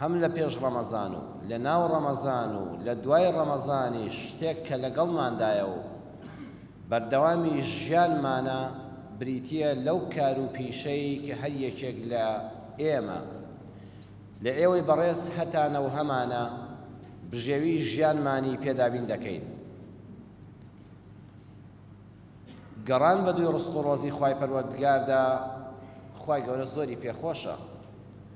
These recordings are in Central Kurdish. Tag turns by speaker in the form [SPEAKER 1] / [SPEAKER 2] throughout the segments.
[SPEAKER 1] هەم لە پێش ڕەمەزان و لە ناو ڕەمەزان و لە دوای ڕەمەزانیش شتێک کە لەگەڵماندایە و بەردەوامی ژیانمانە بریتییە لەو کار و پیشەی کە هەر یەکێک لە ئێمە لە ئێوەی بەڕێز هەتا نەوهەمانە بژێوی ژیانمانی پێ دابین دەکەین. گەڕان بە دووی ڕزق و ڕۆزی خوای پەروەردگاردا خوای گەورە زۆری پێخۆشە.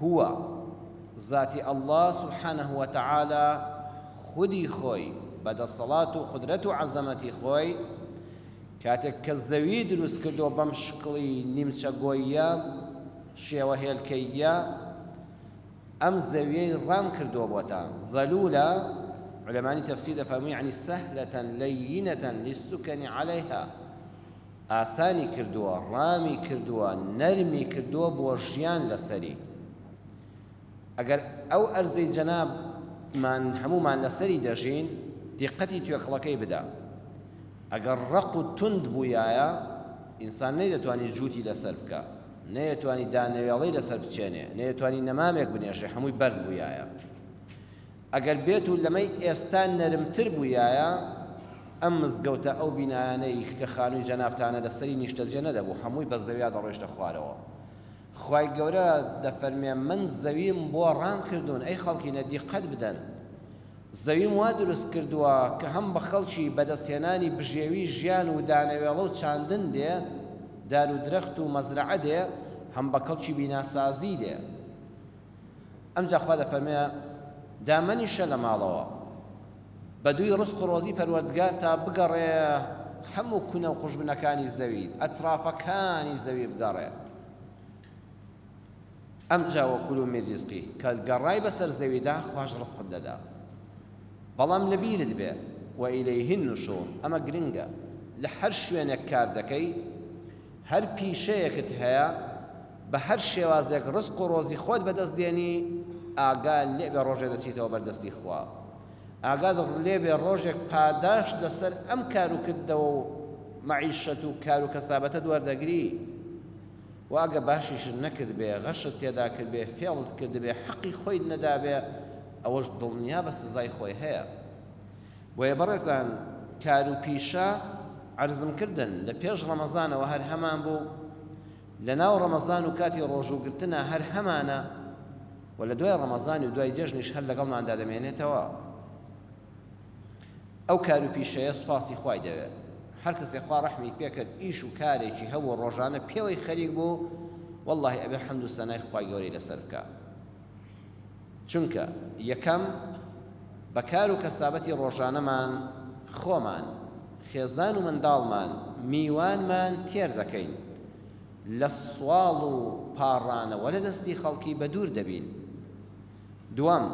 [SPEAKER 1] هو، زاتی اللە سبحانە وتعالی خودی خۆی بە دەسەڵات و قودرەت و عەزەمەتی خۆی کاتێک کە زەوی دروست کردوە بەم شکڵی نیمچە گۆییە شێوە هێلکەییە ئەم زەویەی ڕام کردوە بۆتە ذلولە علمانی تەفسیر دەفەرموی یەعنی سەهلەتەن لەیینەتەن للسکەنی عەلەیها ئاسانی کردووە ڕامی کردووە نەرمی کردووە بۆ ژیان لەسەری ئەگەر ئەو ئەرزەی جەناب مان هەموومان لەسەری دەژین دیقەتی توێکڵەکەی بدا ئەگەر ڕق و توند بوویایە ئینسان نەیدەتوانی جووتی لەسەر بکە نەیەتوانی دانەوێڵەی لەسەر بچێنێ نەیەتوانی نەمامێک بنێژێ هەمووی بەرد بوویایە ئەگەر بێت و لەمەی ئێستا نەرمتر بوویایە، ئەم مزگەوتە ئەو بینایانەی کە خانووی جەنابتانە لە سەری نیشتەجێ نەدەبوو، هەمووی بە زەویا دەڕۆیشتە خوارەوە. خوای گەورە دەفەرمێ، من زەویم بۆ ڕام کردوون، ئەی خەڵکینە دیقەت بدەن. زەویم وا دروست کردووە کە هەم بە خەڵکی بەدەستهێنانی بژێوی ژیان و دانەوێڵە و چاندن دێ، دار و درەخت و مەزرەعە دێ، هەم بە کەڵکی بیناسازی دێ. ئەمجا خوا دەفەرمێ، دامەنیشە لە ماڵەوە بەدووی ڕزق و ڕۆزی پەروەردگارتا بگەڕێ هەموو کونە و قوژبنەکانی زەوی ئەترافەکانی زەوی بگەڕێ ئەمجا وەکول و میریزقی کە گەڕای بەسەر زەویدا خواش ڕزقت دەدا بەڵام لەبیرت بێ وئیلەیهن نشور ئەمە گرنگە لە هەر شوێنێک کار دەکەی هەر پیشەیەکت هەیە بە هەر شێوازێک ڕزق و ڕۆزی خۆت بەدەست دێنی ئاگا لێبێ ڕۆژێ دەچیتەوە بەر دەستی خوا ئاگات ڕلێبێ ڕۆژێک پاداشت لەسەر ئەم کار و کردەوە و مەعیشەت و کار و کەسابەتەت وەردەگری و ئەگە باشیشت نەکردبێ غەشت تێدا کردبێ فێڵت کردبێ حەقی خۆیت نەدابێ ئەوەش دڵنیابە سزای خۆی هەیە بۆیە بەڕێزان کار و پیشە عەرزم کردن لە پێش ڕەمەزانەوە هەر هەمان بوو لە ناو ڕەمەزان و کاتی ڕۆژوو گرتنا هەر هەمانە و لە دوای ڕەمەزان و دوای جەژنیش هەر لەگەڵماندا دەمێنێتەوە ئەو کار و پیشەیە سوپاسی خوای دەوێ هەر کەسێ خوا ڕەحمی پێکرد ئیش و کارێکی هەبوو ڕۆژانە پێوەی خەریک بوو واللهی ئەبێ حەمد و سەنای خوای گەورەی لەسەر بکا چونکە یەکەم بە کار و کەسابەتی ڕۆژانەمان خۆمان، خێزان و منداڵمان، میوانمان تێر دەکەین، لە سواڵ و پاڕانەوە لە دەستی خەڵکی بە دوور دەبین. دووەم،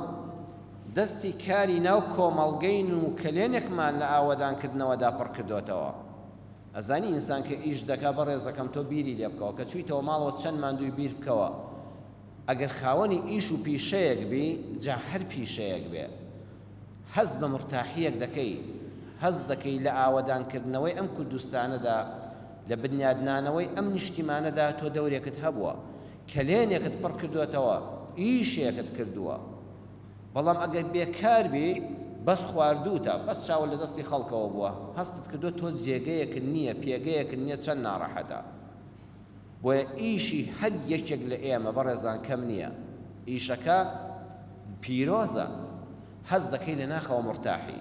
[SPEAKER 1] دەستی کاری ناو کۆمەڵگەین و کەلێنێکمان لە ئاوەدانکردنەوەدا پڕ کردۆتەوە. ئەزانی ئینسان کە ئیش دەکا، بەڕێزەکەم تۆ بیری لێ بکەوە، کە چوویتەوە ماڵەوە چەند ماندووی بیر بکەوە، ئەگەر خاوەنی ئیش و پیشەیەک بی جا هەر پیشەیەک بێ هەست بە مورتاحیەک دەکەی هەست دەکەی لە ئاوەدان کردنەوەی ئەم کوردستانەدا لە بنیادنانەوەی ئەم نیشتیمانەدا تۆ دەورێکت هەبووە کەلێنێکت پڕ کردۆتەوە ئیشێکت کردووە بەڵام ئەگەر بێکار بی بەس خواردووتە بەس چاوە لە دەستی خەڵکەوە بووە هەستت کردووە تۆ جێگەیەکت نییە پێگەیەکت نییە چەند ناڕەحەتە. بۆیە ئیشی هەر یەکێک لە ئێمە بەڕێزان کەم نیە ئیشەکە پیرۆزە هەست دەکەی لە ناخەوە مرتاحی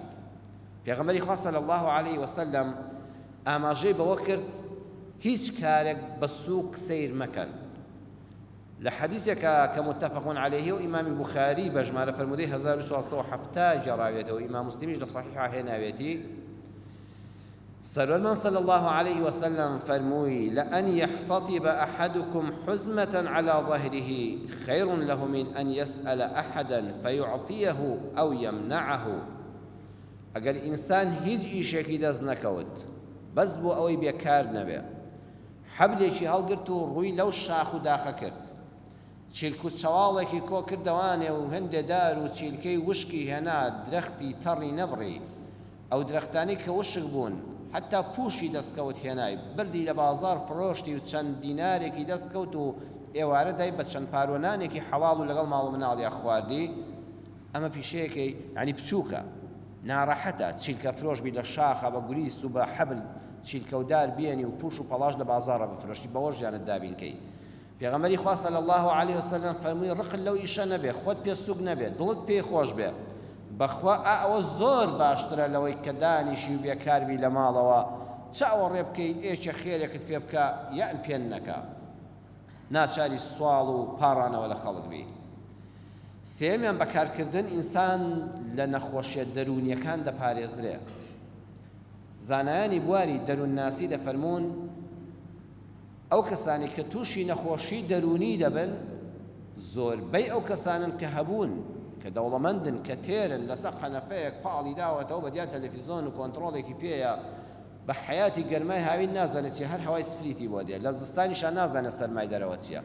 [SPEAKER 1] پێغەمبەری خوا صلی الله علیه وسلم ئاماژەی بەوە کرد هیچ کارێک بە سووک سیر مەکەن لە حەدیثێکە کە متفقون عليه و ئیمامی بخاری بە ژمارە فەرمودەی 1470 جێڕاوێتەوە ئیمام مسلمیش لە صحیحا هێناوێتی سەروەرمان صلی اللە علیە وسلم فەرمووی، لان یحتطب احدکم حزمە علی ظهره خیر له من ان یسال احدا فیعطیه او یمنعه، ئەگەر ئینسان هیچ ئیشێکی دەست نەکەوت بەس بۆ ئەوەی بێ کار نەبێ حەبلێکی هەڵگرت و ڕووی لەو شاخ و داخە کرد چیلک و چەواڵێکی کۆ کردەوانێ و هەندێ دار و چیلکەی وشکی هێنا درەختی تەڕی نەبڕی ئەو درەختانەی کە وشک بوون حەتا پووشی دەستکەوت هێنای بردی لە بازاڕ فرۆشتی و چەند دینارێکی دەستکەوت و ئێوارە دای بە چەند پارۆ نانێکی حەڵاڵ و لەگەڵ ماڵ و مناڵیا خواردی ئەمە پیشەیەکەی یانی بچووکە ناڕەحەتە چیلکە فرۆش بی لە شاخە بە گوریس و بە حەبل چیلکەودار بێنی و پووش و پەڵاش لە بازاڕە بفرۆشی بەوە ژیانت دابین کەی پێغەمبەری خوا صلی اللە علیە وسلم فەرمووی، ڕقت لەو ئیشە نەبێ، خۆت پێ سووک نەبێ، دڵت پێی خۆش بێ، بەخوا ئا ئەوە زۆر باشترە لەوەی کە دانیشی و بێکار بی لە ماڵەوە، چ ئەوەڕێ بکەی ئێ چێ خێرێکت پێ بکا یان پێ نەکا ناچاری سواڵ و پاڕانەوە لە خەڵک بی. سێیەمیان بە کارکردن ئینسان لە نەخۆشیە دەروونیەکان دەپارێزرێ. زانایانی بواری دەروونناسی دەفەرموون، ئەو کەسانەی کە تووشی نەخۆشی دەروونی دەبن زۆربەی ئەو کەسانەن کە هەبوون، کە دەوڵەمەندن، کە تێرن، لەسەر قەنەفەیەک پاڵی داوەتەوە بەدیار تەلەفیزۆن و کۆنتڕۆڵێکی پێیە، بە حەیاتی گەرمای هاوین نازانێت چیە هەر هەوای سپلیتی بۆ دێ، لە زستانیشا نازانێت سەرمای دەرەوە چیە.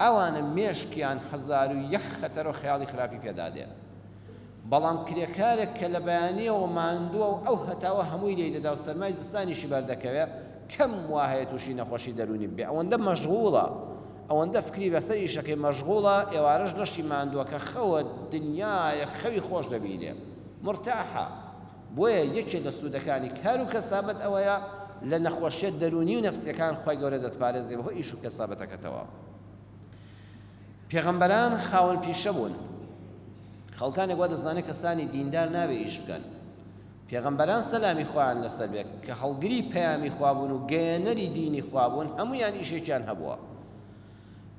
[SPEAKER 1] ئەوانە مێشکیان هەزار و یەک خەتەرو خەیاڵی خراپی پێدادێ. بەڵام کرێکارێک کە لە بەیانییەوە ماندووە و ئەو هەتاوە هەمووی لێی دەدا و سەرمای زستانیشی بەردەکەوێ، کەم وا هەیە تووشی نەخۆشی دەروونی ببێ، ئەوەندە مەشغووڵە، ئەوەندە فکری لەسەر ئیشەکەی مەشغووڵە، ئێوارەش لەشی ماندووەکە خەوە، دنیایەک خەوی خۆش دەبینێ. مرتاحە. بۆیە یەکێ لە سوودەکانی کار و کەسابەت ئەوەیە لە نەخۆشییە دەروونی و نەفسییەکان خوای گەورە دەتپارێزێ بەهۆی ئیش و کەسابەتەکەتەوە. پێغەمبەران خاوەن پیشە بوون خەڵکانێک وا دەزانێت کەسانی دیندار نابێ ئیش بکەن پێغەمبەران سەلامی خۆیان لەسەر بێت کە هەڵگری پەیامی خوابوون و گەیەنەری دینی خوابوون هەمویان ئیشێکیان هەبووە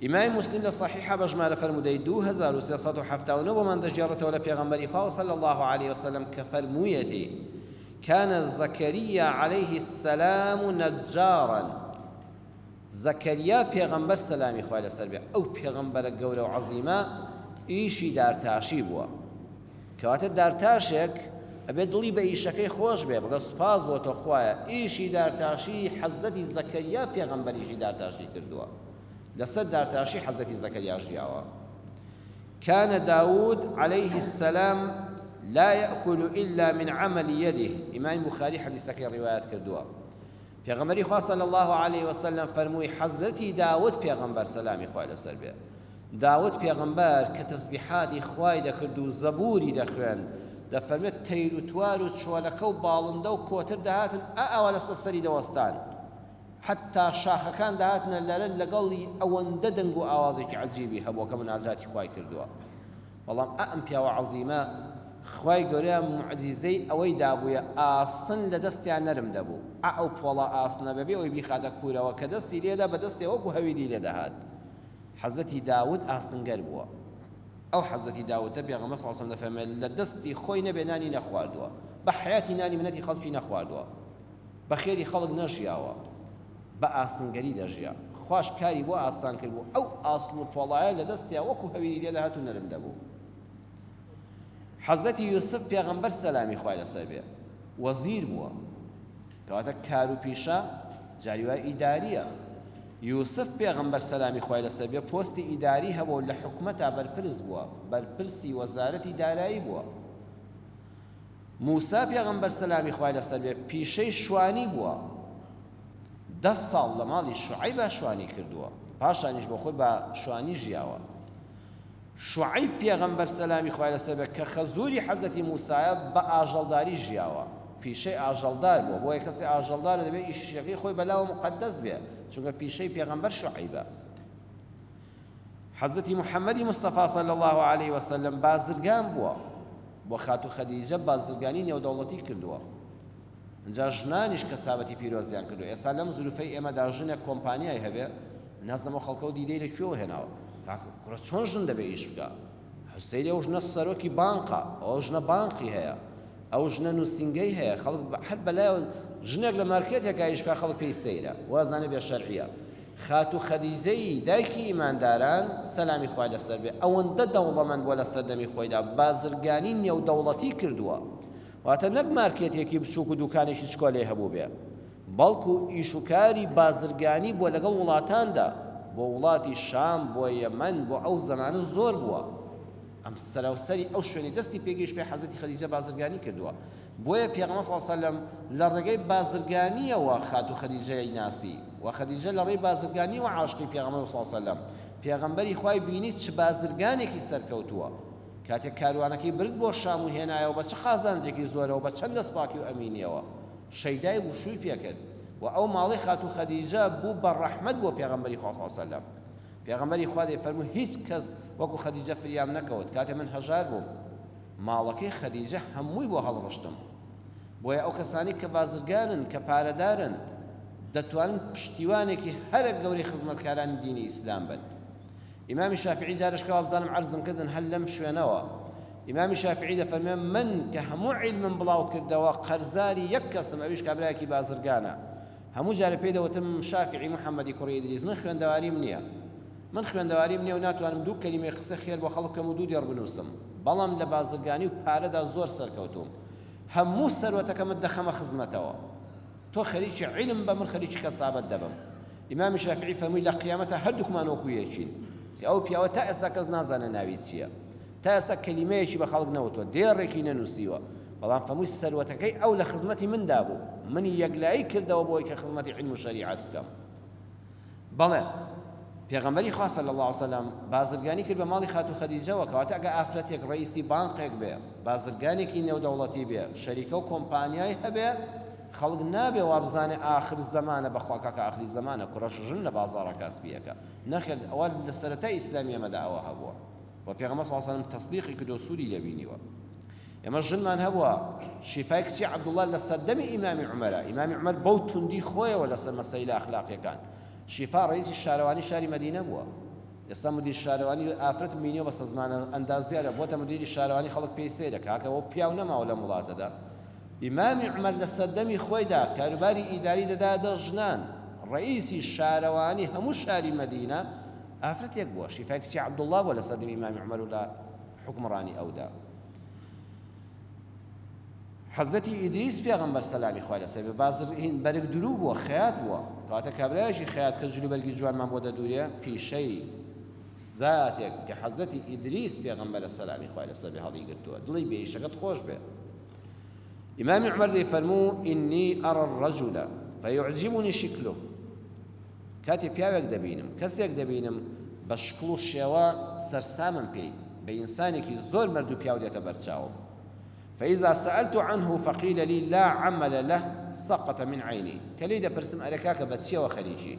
[SPEAKER 1] ئیمای مسلم لە صحیحە بە ژمارە فەرمودەی 2379 بۆمان دەگێڕێتەوە لە پێغەمبەری خوا صلی الله عليه وسلم کە فەرموویەتی كان زكريا عليه السلام نجارا زەکەریا پێغەمبەر سەلامی خوای لەسەر بێ ئەو پێغەمبەرە گەورە و عەزیمە ئیشی دارتاشی بووە کەواتە دارتاشێک ئەبێ دڵی بە ئیشەکەی خۆش بێ بڵێ سوپاس بۆ تۆ خوایە ئیشی دارتاشی حەزەتی زەکەریا پێغەمبەریشی دارتاشی کردووە لەسەر دارتاشی حەزەتی زەکەریا ژیاوە كان داود عليه السلام لا يأكل إلا من عمل يده إمام بخاري حديثك روايات كردوا پێغەمبەری خوا صلی اللە علیە وسلم فەرمووی، حەزرەتی داود پێغەمبەر سەلامی خوای لەسەر بێ داود پێغەمبەر کە تەسبیحاتی خوای دەکرد و زەبووری دەخوێند دەفەرمێت تەیر و توار و چۆلەکە و باڵندە و کۆتر دەهاتن ئا ئاوا لەسەر سەری دەوەستان حەتتا شاخەکان دەهاتنە لەرە لەگەڵی ئەوەندە دەنگ و ئاوازێکی عەجیبی هەبووە کە مناجاتی خوای کردووە. بەڵام ئائەم پیاوە عەزیمە خوای گەورە موعجیزەی ئەوەی دابوویە ئاسن لە دەستیا نەرم دەبوو ئائەو پۆڵا ئاسنە بەبێ ئەوەی بیخاتە کوورەوە کە دەستی لێدا بە دەستێ وەکو هەویری لێ دەهات حەزرەتی داود ئاسنگەر بووە ئەو حەزرەتی داودە پێغەمبەر صلی اللە علیە وسلم دەفەرموێت لە دەستی خۆی نەبێ نانی نەخواردووە بە حەیاتی نانی منەتی خەڵکی نەخواردووە بە خێری خەڵک نەژیاوە بە ئاسنگەری دەژیا خواش کاری بۆ ئاسان کردبوو ئەو ئاسن و پۆڵایە لە دەستیا وەکو هەویری لێ دەهات و نەرم دەبوو حەزەتی یوسف پێغەمبەر سەلامی خوای لەسەر بێ وەزیر بووە کەواتە کار و پیشە جاری وای ئیداریە یوسف پێغەمبەر سەلامی خوای لەسەر بێ پۆستی ئیداری هەبوو لە حکومەتا بەرپرس بووە بەرپرسی وەزارەتی دارایی بووە موسا پێغەمبەر سەلامی خوای لەسەر بێت پیشەی شوانی بووە دە ساڵ لە ماڵی شوعیبا شوانی کردووە پاشانیش بۆ خۆی بە شوانی ژیاوە شوعیب پێغەمبەر سەلامی خوای لەسەر بێت کە خەزووری حەزەتی موسایە بە ئاژەڵداری ژیاوە پیشەی ئاژەڵدار بووە بۆیە کەسی ئاژەڵدار دەبێت ئیشیشەکەی خۆی بەلاوە مقدەس بێ چونکە پیشەی پێغەمبەر شوعیبە حەزرەتی محمدی مصطفی صلی اللە علیە وسلم بازرگان بووە بۆ خاتوو خەدیجە بازرگانی نێودەوڵەتی کردووە ئینجا ژنانیش کەسابەتی پیرۆزیان کردو ئێستا لەم زروفەی ئێمەدا ژنێک کۆمپانیای هەبێ نازەمە خەڵکەو دیدەی لە کوێوە هێناوە کوڕە چۆن ژن دەبێ ئیش بکە حسەین ئەو ژنە سەرۆکی بانقە ئەو ژنە بانقی هەیە ئەو ژنە نوسینگەی هەیە خەڵک هەر بەلایەوە ژنێک لە مارکێتێکا ئیش بکا خەڵک پێی سەیرە وازانێ بێ شەرعیە خاتوو خەدیجەی دایکی ئیمانداران سەلامی خوای لەسەر بێ ئەوەندە دەوڵەمەند بووە لە سەردەمی خۆیدا بازرگانی نێودەوڵەتی کردووە واتە نەک مارکێتێکی بچووک و دوکانێکی چکۆلەی هەبووبێ بەڵکو ئیش و کاری بازرگانی بووە لەگەڵ وڵاتاندا، بۆ وڵاتی شام، بۆ یەمەن، بۆ ئەو زەمانە زۆر بووە، ئەم سەراوسەری ئەو شوێنەی دەستی پێگەیشت پێی حەزرەتی خەدیجە بازرگانی کردووە، بۆیە پێغەمبەر صلی اللە علیە و سلم لە ڕێگەی بازرگانییەوە خاتوو خەدیجەی ناسی و خەدیجە لە ڕێی بازرگانییەوە عاشقی پێغەمبەر بوو صلی اللە علیە و سلم، پێغەمبەری خوای بینی چ بازرگانێکی سەرکەوتووە، کاتێک کاروانەکەی برد بۆ شام و هێنایەوە بە چ قازانجێکی زۆرەوە بە چەند دەستپاکی و ئەمینییەوە. شەیدای وشووی پێ کرد و ئەو ماڵەی خاتوو خەدیجە بوو بە ڕەحمەت بۆ پێغەمبەری خوا صلی علیە وسلم. پێغەمبەری خوا دەیفەرموو هیچ کەس وەکو خەدیجە فریام نەکەوت کاتێ من هەژار بووم ماڵەکەی خەدیجە هەمووی بۆ هەڵڕشتم. بۆیە ئەو کەسانەی کە بازرگانن کە پارەدارن دەتوانن پشتیوانێکی هەرە گەورەی خزمەتکارانی دینی ئیسلام بن. ئیمامی شافعی جارش کە وابزانم عەرزم کردن هەر لەم شوێنەوە ئیمامی شافعی دەفەرمێ من کە هەموو عیلمم بڵاو کردەوە قەرزاری یەک کەسم ئەویش کابرایەکی بازرگانە هەموو جارە پێی دەوتم شافعی محەممەدی کوڕی ئیدریس من خوێندەواریم نییە من خوێندەواریم نییە و ناتوانم دوو کەلیمەی قسە خێر بۆ خەڵک بکەم و دوو دێڕ بنووسم بەڵام لە بازرگانی و پارەدا زۆر سەرکەوتووم هەموو سەروەتەکەمت دەخەمە خزمەتەوە تۆ خەریکی عیلم بە من خەریکی کەسابەت دەبم ئیمامی شافعی فەرمووی لە قیامەتە هەردووکمان وەکو یەکین کە ئەو پیاوە تا ئێستا کەس نازانێ ناوی چییە تا ئێستا کەلیمەیەکی بە خەڵک نەوتوە دێڕێکی نەنووسیوە بەڵام فەمووی سەروەتەکەی ئەو لە خزمەتی مندا بوو منی یەکلایی کردەوە بۆی کە خزمەتی علم و شەریعەت بکەم بەڵێ پێغەمبەری خوا صلی اللە علیە وسلم بازرگانی کرد بە ماڵی خاتوو خەدیجەوە کەواتە ئەگە ئافرەتێک ڕەئیسی بانقێک بێ بازرگانێکی نێودەوڵەتی بێ شەریکە و کۆمپانیای هەبێ خەڵک نابێ وابزانێ ئاخر زەمانە بەخوا کاکە ئاخری زەمانە کوڕەش ژن لە بازاڕە کاسبیەکە نەخێت ئەوە لە سەرەتای ئیسلامی ئەمەدا ئەوە هەبووە و پێغەمبەر صلی اللە علیه وسلم تەصدیقی کردو سوودی لێ بینیوە ئێمە ژنمان هەبووە، شیفای کچی عەبدوڵڵا لە سەردەمی ئیمامی عومەرە، ئیمامی عومەر بەو توندی خۆیەوە لەسەر مەسەیلە ئەخلاقیەکان، شیفا ڕەئیسی شارەوانی شاری مەدینە بووە، ئێستا مدیر شارەوانی، ئافرەتم بینیوە بەسە زمانە ئەندازیارە بۆتە مدیری شارەوانی خەڵک پێی سەیرە، کاکە ئەوە پیاو نەماوە لەم وڵاتەدا، ئیمامی عومەر لە سەردەمی خۆیدا کاروباری ئیداری دەدایە دەست ژنان، ڕەئیسی شارەوانی هەموو شاری مەدینە ئافرەتێک بووە، شیفای کچی عەبدوڵڵا بووە لە سەردەمی ئیمامی عومەر و لە. حوکمڕانی ئەودا. حەزرەتی ئیدریس پێغەمبەر سەلامی خوای لەسەر بێت بازرگین بەرگ دروو بووە خەیات بووە کەواتە کابرایەکی خەیات کە جلوبەرگی جوانمان بۆ دەدورێ پیشەی زاتێک کە حەزەتی ئیدریس پێغەمبەرە سەلامی خوای لەسەر بێ هەڵی گرتووە دڵی بێیشەکەت خۆش بێ ئیمامی عمر دەی فەرموو ئینی ئەڕ ڕەجولە فەیعجیبونی شکلو کاتێ پیاوێک دەبینم، کەسێک دەبینم بە شکڵ و شێوە سەرسامم پێی، بە ئینسانێکی زۆر مەرد و پیاو دێتە بەرچاوم. فإذا سألت عنه فقیل لی لا عمل له سقط من عینی، کە لێی دەپرسم ئەرێ کاکە بە چییەوە خەریکی؟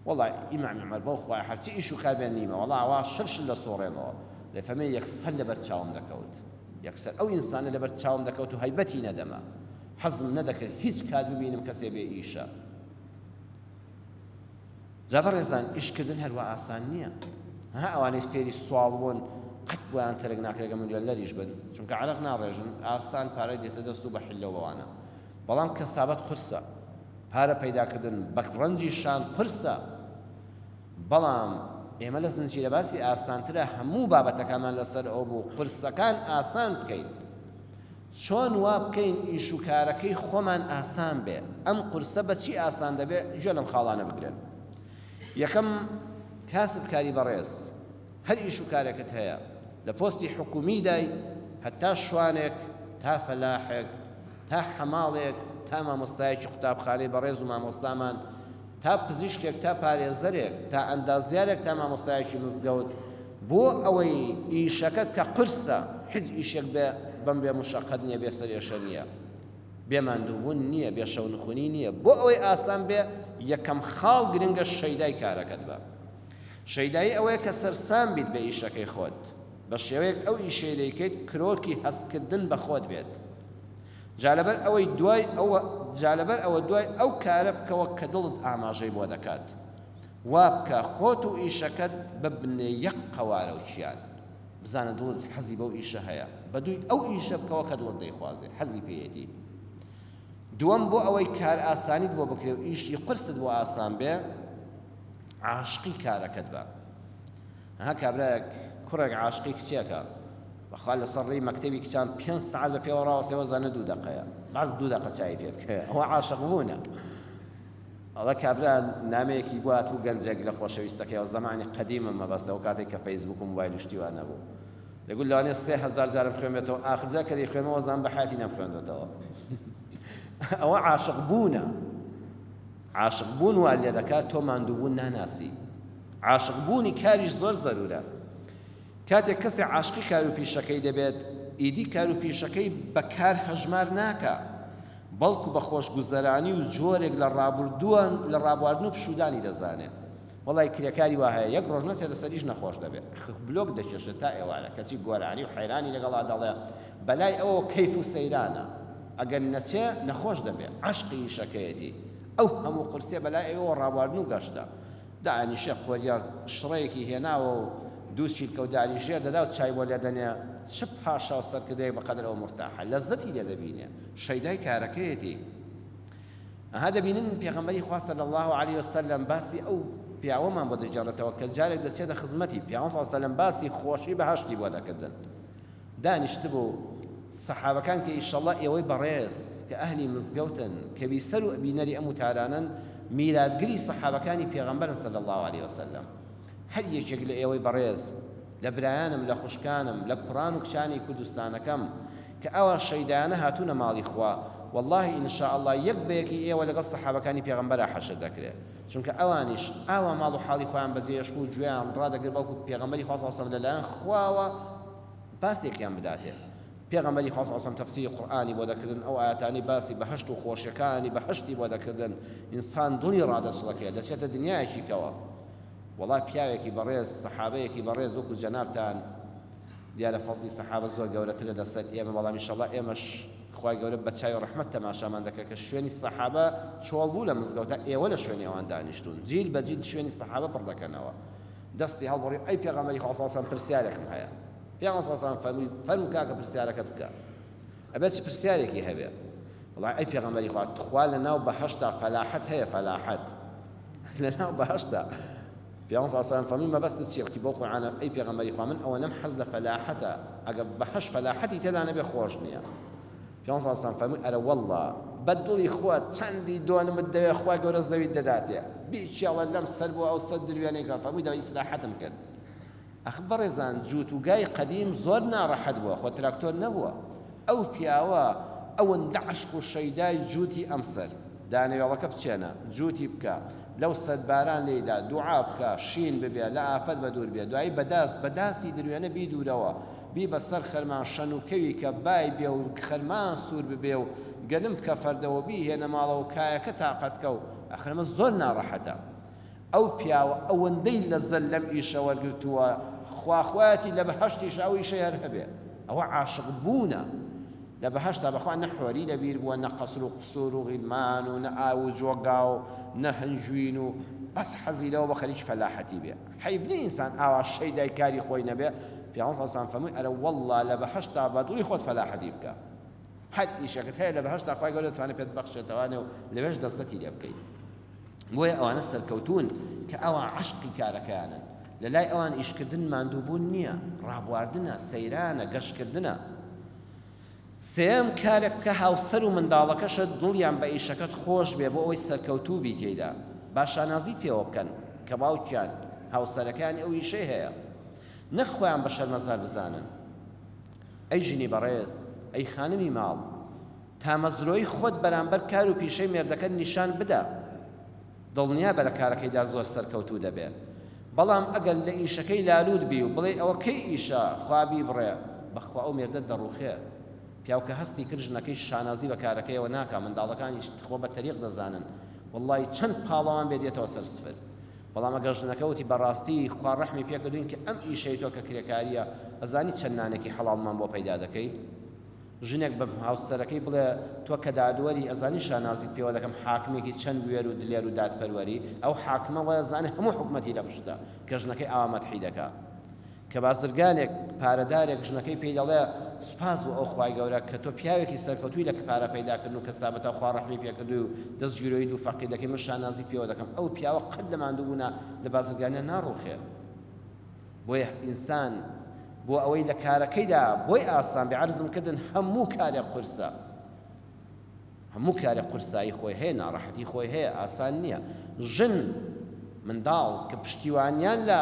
[SPEAKER 1] وەڵا ئی مامی عومەر بەو خوایە هەر چ ئیش و کاربێ نیمە وەڵا ئەوا شل شل دەسووڕێمەوە. دەفەمێ یەکسەر لەبەر چاوم دەکەوت. یەکسەر ئەو ئینسانە لەبەر چاوم دەکەوت و هەیبەتی نەدەما. حەزم نەدەکرد هیچ کات ببینم کەسێ بێ ئیشە. جا بەڕێزان ئیشکردن هەر وا ئاسان نییە ها ئەوانەی فێری سواڵ بوون قەت بۆیان تەرک ناکرێت گە ملیۆنەریش بن چونکە عەرەق ناڕێژن ئاسان پارەی دێتە دەست و بە حلە بەوانە بەڵام کەسابەت قورسە پارە پەیداکردن بە ڕەنجی شان قورسە بەڵام ئێمە لە زنجیرە باسی ئاسانترە هەموو بابەتەکانمان لەسەر ئەو بوو قورسەکان ئاسان بکەین چۆن وا بکەین ئیش و کارەکەی خۆمان ئاسان بێ؟ ئەم قورسە بە چی ئاسان دەبێ؟ گوێ لەم خاڵانە بگرن. یەکەم، کاسبکاری بەڕێز، هەر ئیش و کارێکت هەیە، لە پۆستی حکوومیدای، هەتا شوانێک، تا فەلاحێک، تا حەماڵێک، تا مامۆستایەکی قوتابخانەی بەڕێز و مامۆستامان، تا پزیشکێک، تا پارێزەرێک، تا ئەندازیارێک، تا مامۆستایەکی مزگەوت، بۆ ئەوەی ئیشەکەت کە قورسە هیچ ئیشێک بێ بەم بێ مشەقەت نیە بێ سەرێشە نیە بێ ماندووبوون نیە بێ شەو نخونی نیە بۆ ئەوەی ئاسان بێ یەکەم خاڵ گرنگە شەیدای کارەکەت بە شەیدایی ئەوەیە کە سەرسام بیت بە ئیشەکەی خۆت بە شێوەیەک ئەو ئیشەی دەیکەیت کرۆکی هەست کردن بە خۆت بێت جا لەبەر ئەوەی دوای ئەوە جا لەبەر ئەوە دوای ئەو کارە بکەوە کە دڵت ئاماژەی بۆ دەکات وابکە خۆت و ئیشەکەت ببنە یەک قەوارە و کیان بزانە دڵت حەزی بەو ئیشە هەیە بەدووی ئەو ئیشە بکەوە کە دڵت دەیخوازێ حەزی پێیەتی دووەم بۆ ئەوەی کار ئاسانیت بۆ بکرێ و ئیشی قورست بۆ ئاسان بێ عاشقی کارەکەت بە ها کابراەک کوڕێک عاشقی کچێکە بەخوا لەسەر ڕێی مەکتەبی کچان پێ سعات بە پێوە ڕاوەسەوە زانە دوو دەقەیە باز دوو دەقە چای پێ بکە ئەوە عاشق بوونە ئەڵێ کابرا نامەیەکی بۆ هاتبوو گەنجێک لە خۆشەویستەکەیەوە زەمانی قەدیمە مەبەستە ئەو کاتەی کە فەیسبووک و موبایل و شتی وا نەبوو دەگوت لەوانەیە سێ هەزار جارم خوێنبێتەوە ئاخر جار کە دەیخوێنمەوە زان بە حیاتی نەمخوێندۆتەوە ئەوە عاشق بوونە عاشق بوون وا لێ دەکات تۆ ماندووبوون ناناسی عاشق بوونی کاریش زۆر زەرورە کاتێک کەسێ عاشقی کارو پیشەکەی دەبێت ئیدی کارو پیشەکەی بە کار هەژمار ناکا بەڵکو بە خۆشگوزەرانی و جۆرێک لە ڕابوردوە لە ڕابواردن و پشودانی دەزانێ وەڵای کرێکاری وا هەیە یەک ڕۆژ نەچێتە سەر ئیش نەخۆش دەبێ خخ بلۆک دەکێشێ تا ئێوارە کەچی گۆرانی و حەیرانی لەگەڵا دەڵێ بەلای ئەوەوە کەیف و سەیرانە ئەگەر نەچێ نەخۆش دەبێ عەشقی ئیشەکەیەتی ئەو هەموو قورسیە بەلای ئێوەوە ڕابواردن و گەشتە دانیشە قۆریە شڕەیەکی هێناوە و دوو چیلکە و داری ژێر دەدا و چای بۆ لێ دەنێ، چ پاشا و سەرکردەیەک بە قەدر ئەو مورتاحە، لەززەتی لێ دەبینێ، شەیدای کارەکەیەتی. ئەها دەبینن پێغەمبەری خوا صلی اللە علیە و سلم باسی ئەو پیاوەمان بۆ دەگێڕێتەوە کە جارێک دەچێتە خزمەتی، پیامبەر صلی اللە علیە و سلم باسی خۆشی بەهەشتی بۆ دەکردن، دانیشتبوو سەحابەکان کە ئیشەڵا ئێوەی بەڕێز کە ئەهلی مزگەوتن کە بیسەر و بینەری ئەم وتارانەن میراتگری سەحابەکانی پێغەمبەرن صلی اللە علیە وسلم هەر یەکێک لە ئێوەی بەڕێز لە برایانم لە خوشکانم لە کوڕان و کچانی کوردستانەکەم کە ئەوا شەیدایانە هاتوونە ماڵی خوا وەڵاهی ان شاء اللە یەک بە یەکی ئێوە لەگەڵ سەحابەکانی پێغەمبەرا حەشر دەکرێ. چونکە ئەوانیش ئاوا ماڵ و حاڵی خۆیان بەجێ ئەشکو و گوێیان ڕادەگرت بەڵکو پێغەمبەری خوا صلی اللە علیە وسلم لەلایەن خواوە باسێکیان بداتێ پێغەمبەری خوا صلی اللە علیە وسلم تەفسیری قورئانی بۆ دەکردن ئەو ئایەتانەی باسی بەهەشت و خۆشیەکانی بەهەشتی بۆ دەکردن ئینسان دڵی ڕادەچڵەکێ دەچێتە دنیایەکی کەوە وەڵا پیاوێکی بەڕێز سەحابەیەکی بەڕێز وەکو جەنابتان دیارە فەزڵی سەحابە زۆر گەورەترە لەسەر ئێمە بەڵام ان شاء اللە ئێمەش خوای گەورە بەچاوی ڕەحمەت تەماشامان دەکرد کە شوێنی سەحابە چۆڵ بوو لە مزگەوتە ئێوە لە شوێنی ئەوان دانیشتوون جیل بە جیل شوێنی سەحابە پڕ دەکەنەوە دەستی هەڵبڕی ئەی پێغەمبەری خوا صلی سەلام پرسیارێکم هەیە پێغەمبەر صلی سەلام فەرمووی فەرموو کاکە پرسیارەکەت بکە ئەبێت چ پرسیارێکی هەبێ وڵای ئەی پێغەمبەری خوا تخوا لە ناو بەهەشتا فەلاحەت هەیە فەلاحەت لە ناو بەهەشتا پیامبەر صلی اللە علیە وسلم فەرمووی مەبەستت چیە وتی بەو قورعانە ئەی پێغەمبەری خوا من ئەوەنەم حەز لە فەلاحەتە ئەگەر بەهەشت فەلاحەتی تێدا نەبێ خۆش نیە پیامبەر صلی اللە علیە وسلم فەرمووی ئەرە وەڵڵا بە دڵی خۆت چەندی دۆنمت دەوێ خوای گەورە زەویت دەداتێ بیکێڵە لەم سەر بۆ ئەو سەر دروێنەی کە فەرمووی دەبا ئیسراحەتم کرد ئەخ بەڕێزان جووت و گای قەدیم زۆر ناڕەحەت بووە خۆ تراکتۆر نەبووە ئەو پیاوە ئەوەندە عەشق و شەیدای جووتی ئەم سەر دانەوێڵەکە بچێنە جووتی بکە لەو سەر باران لێی دا دووعا بکە شین ببێ لە ئافەت بە دوور بێ دوایی بە داس بە داسی دروێنە بیدوورەوە بیبە سەر خەرمان شەن و کەوی کە بای بێ و خەرمان سوور ببێ و گەنم بکە فەردە و بیهێنە ماڵەوە کایەکە تاقەت کە و ئەخ ئەمە زۆر ناڕەحەتە. ئەو پیاوە ئەوەندەی لەزەت لەم ئیشە وەرگرتووە خوا خوایەتی لە بەهەشتیشا ئەو ئیشەی هەر هەبێ ئەوە عاشق بوونە لە بەهەشتا بەخوا نە حۆری لە بیر بووە نە قەسر و قسور و غیلمان و نە ئاو و جۆگا و نە هەنجوین و بەس حەزی لەوە بە خەریکی فەلاحەتی بێ حەیف نیە ئینسان ئاوا شەیدای کاری خۆی نەبێ پیاوەڕ سەسان فەرمووی ئەرە وەڵڵا لە بەهەشتا بە دڵی خۆت فەلاحەتی بکە هەر ئیشەکەت هەیە لە بەهەشتا خوای گەورە دەتوانێت پێت ببەخشێتەوە و لەوێش لەززەتی لێ بکەیت بۆیە ئەوانە سەرکەوتوون کە ئەوا عەشقی کارەکەیانن لە لای ئەوان ئیشکردن ماندووبوون نییە ڕابواردنە سەیرانە گەشتکردنە سێم کارێک بکە هاوسەر و منداڵەکەشت دڵیان بە ئیشەکەت خۆش بێ بۆ ئەوەی سەرکەوتوو بی تێیدا با شانازی پێوە بکەن کە باوکیان هاوسەرەکانی ئەو ئیشەی هەیە نەک خۆیان بە شەرمەزار بزانن ئەی ژنی بەڕێز ئەی خانمی ماڵ تامەزرۆی خۆت بەرامبەر کار و پیشەی مێردەکەت نیشان بدە، دڵنیابە لە کارەکەیدا زۆر سەرکەوتوو دەبێت، بەڵام ئەگەر لە ئیشەکەی لالوود بی و بڵێی ئەوە کەی ئیشە خوا بیبڕێ، بەخوا ئەو مێردەت دەڕووخێ، پیاو کە هەستی کرد ژنەکەی شانازی بە کارەکەیەوە ناکا، منداڵەکانیش خۆ بە تەریق دەزانن، وەڵڵاهی چەند پاڵەوان بێت دێتەوە سەر سفر، بەڵام ئەگەر ژنەکە وتی بەڕاستی خوا ڕەحمی پێکردووین کە ئەم ئیشەی تۆ کە کرێکارییە ئەزانی چەند نانێکی حەڵاڵمان بۆ پەیدا دەکەی؟ ژنێک بە هاوسەرەکەی بڵێ تۆ کە دادوەری ئەزانی شانازیت پێوە دەکەم حاکمێکی چەند بوێر و دلێر و دادپەروەری ئەو حاکمە وایە زانێ هەموو حکومەتی لە پشتە کە ژنەکەی ئاوا مەدحی دەکا کە بازرگانێک پارەدارێک ژنەکەی پێی دەڵێ سوپاس بۆ ئەو خوای گەورە کە تۆ پیاوێکی سەرکەوتوی لە پارە پەیداکردن و کەسابەتا خوا ڕەحمی پێکردووی و دەستگیرۆی دوو فەقیر دەکەی من شانازیت پێوە دەکەم ئەو پیاوە قەت لە ماندووبوونا لە بازرگانیان ناڕوخێ بۆیه ئینسان بۆ ئەوەی لە کارەکەیدا بۆی ئاسان بێ عەرزم کردن هەموو کارێک قورسە هەموو کارێک قورسایی خۆی هەیە ناڕەحەتی خۆی هەیە ئاسان نییە ژن منداڵ کە پشتیوانیان لە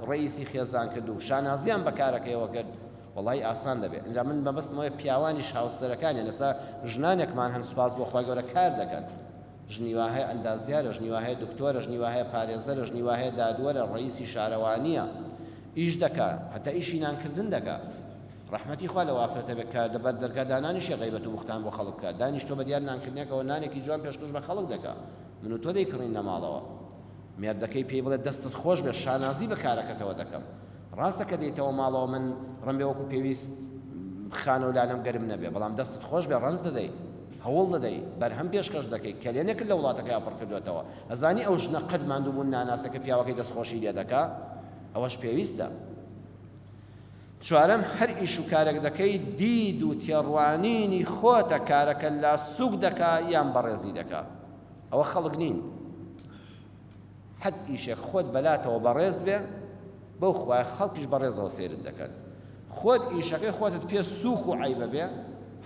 [SPEAKER 1] ڕەیسی خێزان کرد و شانازیان بە کارەکەیەوە کرد وڵی ئاسان دەبێت ئەجا من بەبستمەوەی پیاوانیش هاوسەرەکانیان لەسا ژنانێکمان هەن سوپاس بۆ خۆی گەورە کار دەکەن ژنی وا هەیە ئەندازیارە، ژنی وا هەیە دکتۆرە، ژنی وا هەیە پارێزەرە، ژنی وا هەیە دادوەرە، ڕەییسی شارەوانییە، ئیش دەکا، هەتا ئیشی نانکردن دەکا. ڕەحمەتی خوا لەو ئافرەتە بێت کە لە بەر دەرگا دانانیشێ غەیبەت و بوختان بۆ خەڵک بکا، دانیشتووە بە دیار نانکردنێکەوە نانێکی جوان پێشکەش بە خەڵک دەکا، من و تۆ دەیکڕین لە ماڵەوە. مێردەکەی پێی بڵێ دەستت خۆش بێت شانازی بە کارەکەتەوە دەکەم. ڕاستە کە دێیتەوە ماڵەوە من ڕمبێ وەکوو پێویست خانە و لانەم گەرم نەبێ، بەڵام دەستت خۆش بێ ڕەنج دەدەی. هەوڵ دەدەی بەرهەم پێشکەش دەکەی کەلێنێکت لە وڵاتەکەیا پڕ کردۆتەوە ئەزانی ئەو ژنە قەت ماندوو بوون ناناسێ کە پیاوەکەی دەست خۆشی لێ دەکا ئەوەش پێویستە چوارەم هەر ئیش و کارێک دەکەی دید و تێڕوانینی خۆتە کارەکە لا سوک دەکا یان بەڕێزی دەکا ئەوە خەڵک نین. حەد ئیشێک خۆت بەلاتەوە بەڕێز بێ بەو خوایە خەڵکیش بەڕێزەوە سەیرت دەکەن خۆت ئیشەکەی خۆتت پێ سووک و عیبە بێ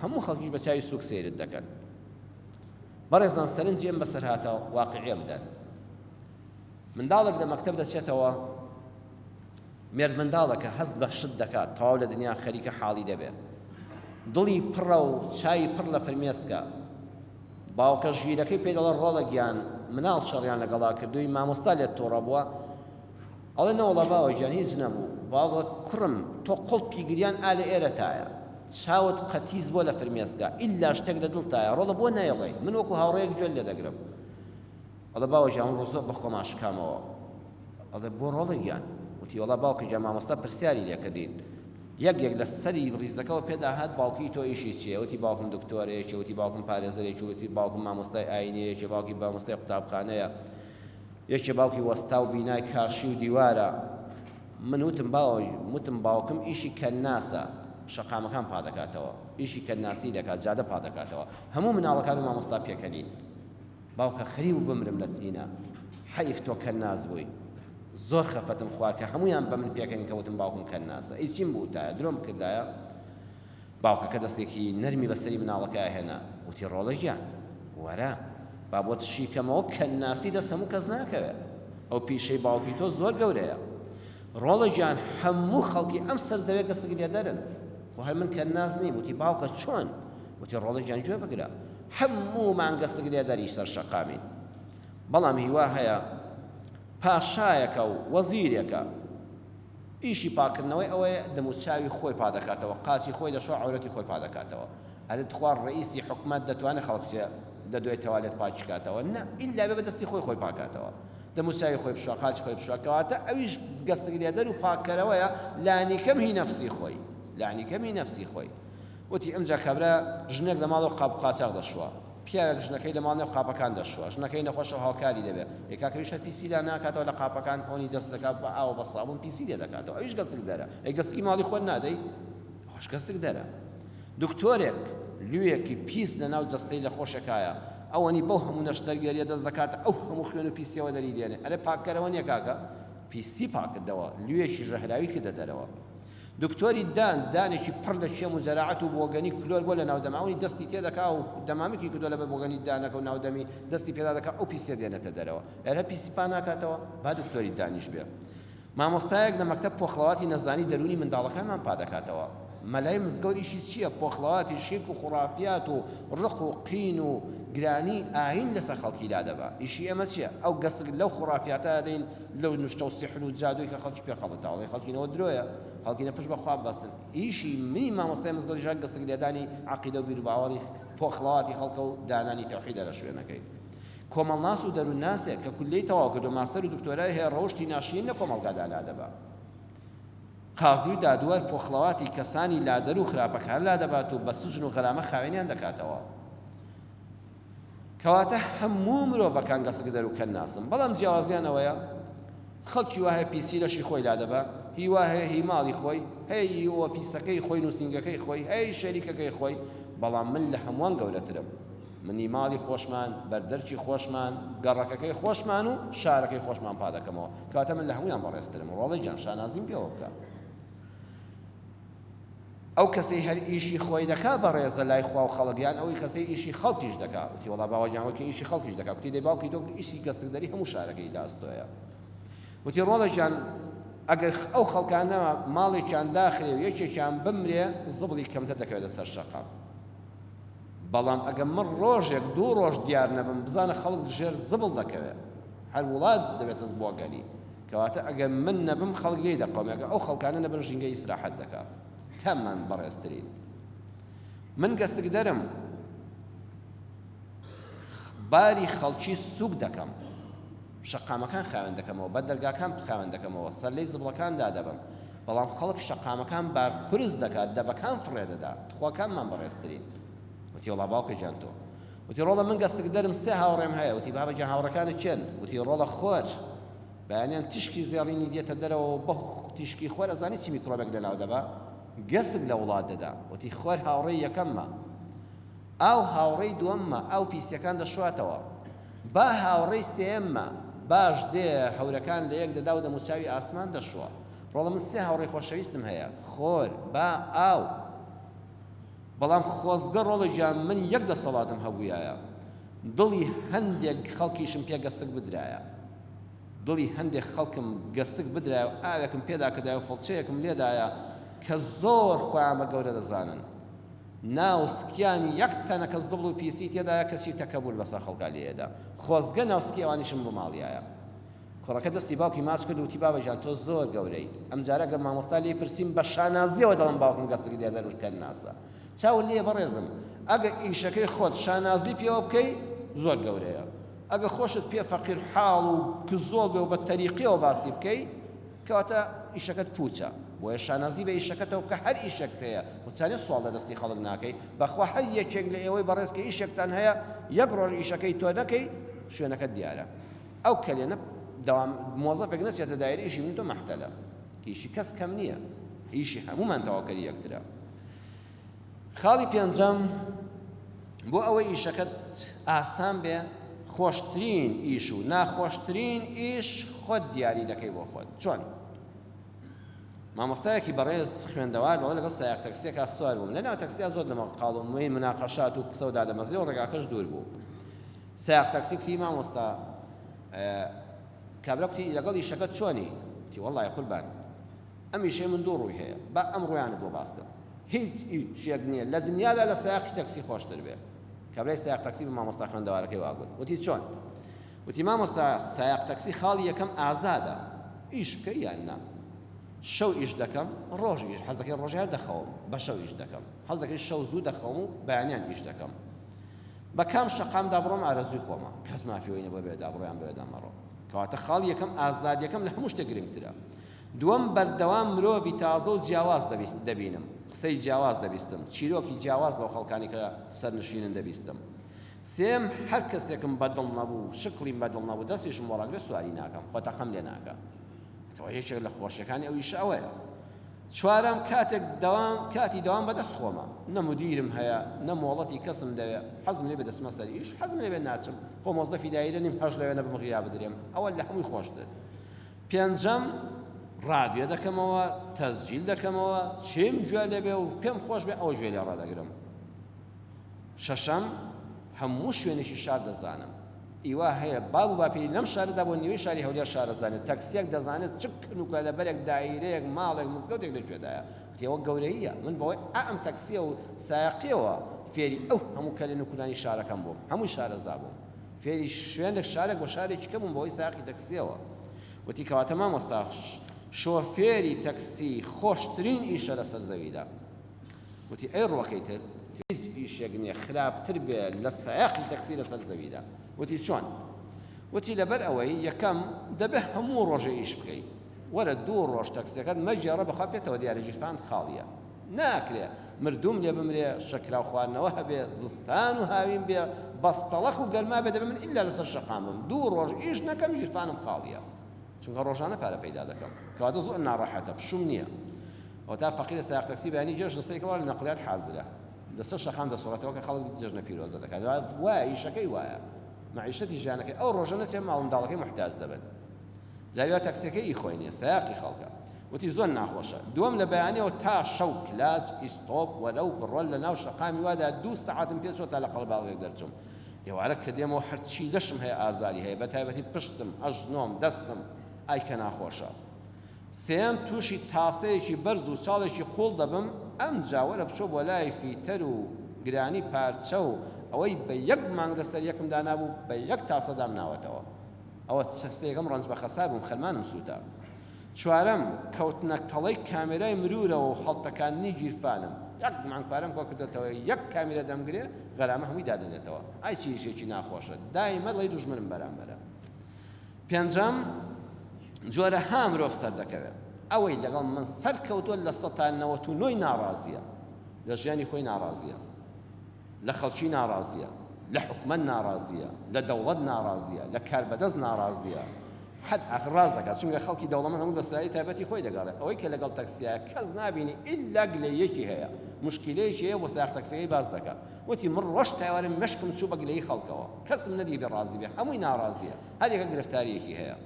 [SPEAKER 1] هەموو خەڵکیش بە چاوی سووک سەیرت دەکەن بەڕێزان سەرنجی ئەم بەسەر هاتە واقعیە بدەن منداڵێک لە مەکتب دەچێتەوە مێردمنداڵە کە هەست بە شت دەکات تەواو لە دنیا خەریکە حاڵی دەبێت. دڵی پڕە و چاوی پڕ لە فرمێسکە. باوکە ژیرەکەی پێی دەڵێت ڕۆڵە گیان مناڵ چڕیان لەگەڵا کردووی مامۆستا لێت توڕە بووە؟ ئەڵێ نەوەڵا باوە گیان هیچ نەبوو. باوک دەڵێت کوڕم تۆ قوڵپی گریان ئا لە ئێرەتایە. چاوت قەتیس بووە لە فرمێسکە. ئیلا شتێک لە دڵتایە. ڕۆڵە بۆ نایڵێی؟ من وەکو هاوڕێیەک گوێت لێ دەگرم. ئەڵێ باوە گیان ئەمڕۆ زۆر بەخۆمان شکامەوە ئەڵێ بۆ ڕۆڵە گیان وتی وەڵا باوکە گیان مامۆستا پرسیاری لێکردین یەک یەک لە سەری ڕیزەکەەوە پێدا هات باوکی تۆ ئیشی چیە وتی باوکم دکتۆرەیەکی وتی باوکم پارێزەرێکی وتی باوکم مامۆستای ئاینەیەکی باوکی بامۆستای قوتابخانەیە یەکێ باوکی وەستا و بینای کاشی و دیوارە من وتم باوەی وتم باوکم ئیشی کەناسە شەقامەکان پادەکاتەوە ئیشی کەناسی دەکات جادە پادەکاتەوە هەموو مناڵەکان و مامۆستا پێکەنین باوکە خریو بمرم لە تینە. حەیف تۆ کەناس بووی زۆر خەفەتم خوارد کە هەموویان بە من پێکەنین کە وتم باوکم کەناسە ئەی چیم بووتایە درۆم بکردایە باوکەکە دەستێکی نەرمی بە سەری مناڵەکەیا هێنا وتی ڕۆڵە گیان وەرە با بۆت شیکەمەوە کەناسی دەست هەموو کەس ناکەوێت ئەو پیشەی باوکی تۆ زۆر گەورەیە ڕۆڵە گیان هەموو خەڵکی ئەم سەر زەوێ کەسک لێدەرن خۆ هەر من کەناس نیم وتی باوکە چۆن وتی ڕۆڵە گیان گوێ بگرە هەموومان گسک لێدەری سەر شەقامین، بەڵام هیوا هەیە پاشایەکە و وەزیرێکە ئیشی پاکردنەوەی ئەوەیە دەموچاوی خۆی پادەکاتەوە قاچی خۆی دەشۆ عەورەتی خۆی پادەکاتەوە ئەرێ تخوا ڕەئیسی حکومەت دەتوانێ خەڵک بچێ لەدوای تەوالێت پاکیکاتەوە نا ئیلا بێ بەدەستی خۆی خۆی پاکاتەوە دەموچاوی خۆی بشۆ قاچی خۆی بشۆ کەواتە ئەویش گەسک لێدەر و پاککەرەوەیە لانیکەم هی نەفسی خۆی لانیکەم هی نەفسی خۆی وتی، ئەمجا کابرا ژنێک لە ماڵەوە قاپ و قاچاخ دەشوا، پیاوێک ژنەکەی لە ماڵ نێو قاپەکان دەشوا، ژنەکەی نەخۆشە و هاوکاری دەبێ، ئێ کاکە ئەویش هەر پیسی لا ناکاتەوە لە قاپەکان هۆنی دەست دەکا بە ئاو و بە سابوون پیسی لێ دەکاتەوە، ئەویش گەسکدەرە، ئێ گەسکی ماڵی خۆت نادەی؟ ئەوەش گەسکدەرە. دکتۆرێک لووێکی پیس لە ناو جەستەی لەخۆشێکایە، ئەوەنی بەو هەموو نەشتەرگەرییە دەست دەکاتە ئەو هەموو خوێن و پیسییەوە دەری دێنێ، ئەرێ پاککەرەوە نییە کاکە؟ پیسی پاککردەوە، لووێکی ژەهراوی کردە دەرەوە. دکتۆری دان، دانێکی پڕ لە کێم و جەراعەت و بۆگەنی کلۆر بۆ لە ناو دەمامکی دەستی تێ دەکا و دەمامکی کردوە لەبەر بۆگەنی دانەکە و ناو دەمی دەستی پێدا دەکا ئەو پیسیە دێنێتە دەرەوە ئێرە پیسی پا ناکاتەوە با دکتۆری دانیش بێ مامۆستایەک لە مەکتەب پۆخڵەواتی نەزانی دەرونی منداڵەکانمان پا دەکاتەوە مەلای مزگەوت ئیشی چیە پۆخڵەواتی شیرک و خوڕافیات و ڕق و قین و گرانی ئاین لەسەر خەڵکی لادەبا ئیشی ئێمە چیە ئەو گەسک لەو خوڕافیاتە دەین لەو نوشتە و سیحر و جادووی کە خەڵکی پێ خەڵەتە ئەڵێی خەڵکی نەوە درۆیە خەڵکینە پشت بە خوا ببەستن ئیشی منی مامۆستای مزگەوتیش هەر گسک لێدانی عەقیدە و بیروباوەڕی پۆخڵەواتی خەڵکە و دانانی تەوحیدە لە شوێنەکەی کۆمەڵناس و دەروونناسێک کە کولیەی تەواو کردووە ماستەر و دکتۆرای هەیە ڕەوشتی ناشرین لە کۆمەڵگادا لادەبا قازی و دادوەر پۆخڵەواتی کەسانی لادەر و خراپەکار لادەبات و بە سجن و غەرامە خاوێنیان دەکاتەوە کەواتە هەموو مرۆڤەکان گەسکدەر و کەنناسن، بەڵام جیاوازیان ئەوەیە خەڵکی وا هەیە پیسی لەشی خۆی لادەبا، هی وا هەیە هی ماڵی خۆی، هەیە ی ئۆفیسەکەی خۆی، نووسینگەکەی خۆی، هەیە ی شەریکەکەی خۆی، بەڵام من لە هەمووان گەورەترم، من ی ماڵی خۆشمان، بەردەرکی خۆشمان، گەڕەکەکەی خۆشمان و شارەکەی خۆشمان پا دەکەمەوە، کەواتە من لە هەموویان بەڕێزترم، ڕۆڵەی گیان شانازیم پێوە بکە. ئەو کەسەی هەر ئیشی خۆی دەکا بەڕێزە لای خوا و خەڵک یان ئەوی کەسەی ئیشی خەڵکیش دەکا وتی وەڵا باوە گیان وەکی ئیشی خەڵکیش دەکا گوتی دەی باوکی تۆ ئیشی گەستکدەری هەموو شارەکەی لە ئەستۆیە وتی ڕۆڵە گیان ئەگەر ئەو خەڵکانە ماڵێکیان داخرێ و یەکێکیان بمرێ زبڵی کەمتر دەکەوێتە سەر شەقام بەڵام ئەگە من ڕۆژێک دوو ڕۆژ دیار نەبم بزانە خەڵک ژێر زبڵ دەکەوێت هەر وڵات دەبێتە بۆگەلی کەواتە ئەگەر من نەبم خەڵک لێی دەقەومێ ئەگەر ئەو خەڵکانە نەبن ژینگە ئیسراحەت دەکا کاممان بەڕێزترین من گەسکدەرم باری خەڵکی سوک دەکەم شەقامەکان خاوێن دەکەمەوە بە دەرگاکان خاوێن دەکەمەوە سەر لەی زبڵەکان دادەبم بەڵام خەڵک شەقامەکان بار قرس دەکات دەبەکان فڕێ دەدا تخواکانمان بەڕێزترین وتیوەڵا باوکە گیان تۆ وتی، ڕۆڵە من گەسکدەرم سێ هاوڕێم هەیە. وتی، بابە گیان هاوڕێکانت کێن؟ وتی، ڕۆڵە خۆر. بەیانیان تیشکی زێڕینی دێتە دەرەوە و بەو تیشکی خۆر ئەزانی چ میکرۆبێک لەناو دەبا؟ گەسک لە وڵات دەدا. وتی، خۆر هاوڕێی یەکەممە. ئاو هاوڕێی دووەممە، ئاو پیسییەکان دەشواتەوە. با هاوڕێی سێیەممە، باش دێ هەورەکان لەیەک دەدا و دەموچاوی ئاسمان دەشوا. ڕۆڵە من سێ هاوڕێی خۆشەویستم هەیە، خۆر، با، ئاو. بەڵام خۆزگە ڕۆڵە گیان من یەک دەسەڵاتم هەبوویایە دڵی هەندێک خەڵکیشم پێ گەستک بدرایە دڵی هەندێک خەڵکم گەستک بدرایە و ئاوێکم پێدا کردایە و فڵچەیەکم لێدایە کە زۆر خۆیان بە گەورە دەزانن ناو سکیانی یەک تەنەکە زبڵ و پیسی تێدایە کەچی تەکەبور بەسەر خەڵکا لێیەدا خۆزگە ناو سکی ئەوانیشم بماڵیایە. کوڕەکە دەستی باوکی ماچ کرد و وتی، بابە گیان تۆ زۆر گەورەیت. ئەمجارە گەر مامۆستا لێی پرسیم بە شانازییەوە دەڵێم باوکم گەسک لێدەر و کەنناسە. چاوت لێیە بەڕێزم؟ ئەگەر ئیشەکەی خۆت شانازی پێوە بکەی زۆر گەورەیە. ئەگەر خۆشت پێ فەقیرحاڵ و کزۆڵ بێ و بە تەریقییەوە باسی بکەی کەواتە ئیشەکەت پووچە. بۆیە شانازی بە ئیشەکەتەوە بکە هەر ئیشێکت هەیە و چەنێ سواڵ لە دەستی خەڵک ناکەی. بەخوا هەر یەکێک لە ئێوەی بەڕێز کە ئیشێکتان هەیە یەک ڕۆژ ئیشەکەی تۆ نەکەی شوێنەکەت دیارە. ئەو کەلێنە دەوام مۆزەفێک نەچێتە دایرەی ئیشی من تۆ مەحتەلە ئیشی کەس کەم نییە ئیشی هەموومان تەواوکەری یەکترە خاڵی پێنجەم بۆ ئەوەی ئیشەکەت ئاسان بێ خۆشترین ئیش و ناخۆشترین ئیش خۆت دیاری دەکەی بۆ خۆت چۆن مامۆستایەکی بەڕێز خوێندەوار بەڵێ لەگەڵ سایق تەکسیەکە سوار بووم لەناو تەکسیا زۆر لەمە قاڵم وی مناقەشات و قسە و دادەمەزرێ و ڕێگاکەش دوور بوو سایەق تەکسی کوتی مامۆستا کابرا کوتی لەگەڵ ئیشەکەت چۆنی کوتی وەڵای قوربان ئەم ئیشەی من دوو ڕووی هەیە با ئەم ڕوویانت بۆ باس کەم هیچ ئیشێک نییە لە دنیادا لە سایەقی تەکسی خۆشتر بێ کابرای سایەق تەکسی بە مامۆستا خوێندەوارەکەی واگوت وتی چۆن وتی مامۆستا سایەق تەکسی خاڵی یەکەم ئازادە ئیش بکە یان نا شەو ئیش دەکەم ڕۆژ ئیش حەزەکەی ڕۆژیان دەخەوم بە شەو ئیش دەکەم حەزەکەی شەو زوو دەخەوم و بەیانیان ئیش دەکەم بە کام شەقامدا بڕۆم ئارەزووی خۆمە، کەس مافی ئەوەی نیە بڵێ بەوێدا بڕۆ یان بەوێدا مەڕۆ. کەواتە خاڵی یەکەم ئازادیەکەم لە هەموو شتێک گرنگترە. دووەم بەردەوام مرۆڤی تازە و جیاواز دەبینم، قسەی جیاواز دەبیستم، چیرۆکی جیاواز لەو خەڵکانی کە سەرنشینن دەبیستم. سێم هەر کەسێکم بە دڵ نەبوو، شکڵیم بە دڵ نەبوو، دەستیشم بۆ ڕاگرێ سواری ناکەم، خۆ تەقەم لێ ناکە. ئەوە یەکێک لە خۆشیەکانی ئەو ئیشە ئەوەیە. چوارەم، کاتێک دەوام کاتی دەوام بەدەست خۆمە، نە مودیرم هەیە، نە مۆڵەتی کەسم دەوێ، حەزم لێ بێ دەچمە سەر ئیش، حەزم نەبێ ناچم، خۆ مۆزەفی دایرە نیم حەز لەوێ نەبم غیا بدرێم، ئەوە لە هەمووی خۆشتر. پێنجەم، ڕادیۆ دەکەمەوە، تەسجیل دەکەمەوە، چیم گوێ لێ بێ و پێم خۆش بێ ئەوە گوێ لێ ڕادەگرم. شەشەم، هەموو شوێنێکی شار دەزانم. ئیوا هەیە باب و باپیری لەم شارەدا بۆ نیوەی شاری هەولێر شارەزانێت، تەکسییەک دەزانێت چ کن و کەلەبەرێک، دایرەیەک، ماڵێک، مزگەوتێک لە کوێدایە. کتێ وەک گەورەییە. من بەهۆی ئائەم تەکسییە و سایەقییەوە فێری ئەو هەموو کەلێن و کولانی شارەکەم بووم. هەمووی شارەزا بووم. فێری شوێنێک، شارێک و شارێکی کە بووم بەهۆی سایەقی تەکسییەوە. وتی، کەواتە مامۆستا، شۆفێری تەکسی خۆشترین ئیشە لەسەر زەویدا. وتی، ئەی ڕووەکەی تر؟ وتی، هیچ ئیشێک نییە خراپتر بێ لە سایەقی تەکسی لەسەر زەویدا. وتی، چۆن؟ وتی، لەبەر ئەوەی یەکەم، دەبێ هەموو ڕۆژێ ئیش بکەی. وەرە دوو ڕۆژ تەکسییەکەت مەگێڕە بەخوا پێتەوە دیارە گیرفانت خاڵییە. ناکرێ مردووم لێ بمرێ، شەکراو خواردنەوە هەبێ، زستان و هاوین بێ، بەستەڵەک و گەرما بێ، دەبێ من ئیلا لەسەر شەقام بم، دوو ڕۆژ ئیش نەکەم گیرفانم خاڵییە. چونکە ڕۆژانە پارە پەیدا دەکەم. کەواتە زۆر ناڕەحەتە، پشووم نییە. ئەوەتا فەقیرە سایەق تەکسی بەیانی جێژنە سەری کەوە لە نەقلیات حازرە لەسەر شەقام دەسوڕێتەوە کە خەڵک جێژنە پیرۆزە دەکات و وایە ئیشەکەی وایە مەعیشەتی ژیانەکەی ئەو ڕۆژە نەچێت ماڵ منداڵەکەی محتاج دەبن جاویا تەکسیەکە ئی خۆی نییە سایاقی خەڵکە وتی زۆر ناخۆشە دووەم لە بەیانەوە تا شەو کلاج ئیستۆپ وەرەو بڕۆل لە ناو شەقامی وادا دوو سەعاتم پێ چۆ تا لە قەڵباڵغێک دەرچوم ئێوارە کە دێمەوە هەرچی لەشم هەیە ئازاری هەیە بە تایبەتی پشتم ئەژنۆم دەستم ئای کە ناخۆشە سێیەم، تووشی تاسەیەکی بەرز و چاڵێکی قووڵ دەبم، ئەمجا وەرە بچۆ بۆ لای فیتەر و گرانی پارچە و ئەوەی بە یەک مانگ لەسەر یەکم دانابوو بە یەک تاسە دام ناوەتەوە. ئەوە چ سێیەکم ڕەنج بە خەسار بووم خەرمانم سووتا. چوارەم، کەوتنە تەڵەی کامێرای مرورەوە و هەڵتەکاندنی گیرفانم. یەک مانگ پارەم کۆ کردۆتەوە یەک کامیرە دەمگرێ غەرامە هەمووی دادەنێتەوە. ئای چ ئیشێکی ناخۆشە دایمە ڵی دوژمنم بەرامبەرە. پێنجەم جۆرە ها مرۆڤ سەردەکەوێت ئەوەی لەگەڵ من سەر کەوتوە لە سەتا نەوەت و نۆی ناڕازیە لە ژیانی خۆی ناڕازیە لە خەڵکی ناڕازیە لە حکومەت ناڕازیە لە دەوڵەت ناڕازیە لە کاربەدەست ناڕازیە حد ئاخر ڕاز دەکات چونکە خەڵکی دەوڵەمەند هەموو بەسایی تایبەتی خۆی دەگەڕێت ئەوەی کە لەگەڵ تەکسیا کەس نبینی ئللا گلەیەکی هەیە مشکلەیەکی هەیە بۆ ساخ تەکسەکەی باز دەکات وتی من ڕۆژ تاوارم مشکم چوو بە گلەی خەڵکەوە کەسم نەدی بێ ڕازی بێ هەمووی ناڕازیە هەر یەکە گرفتاریەکی هەیە.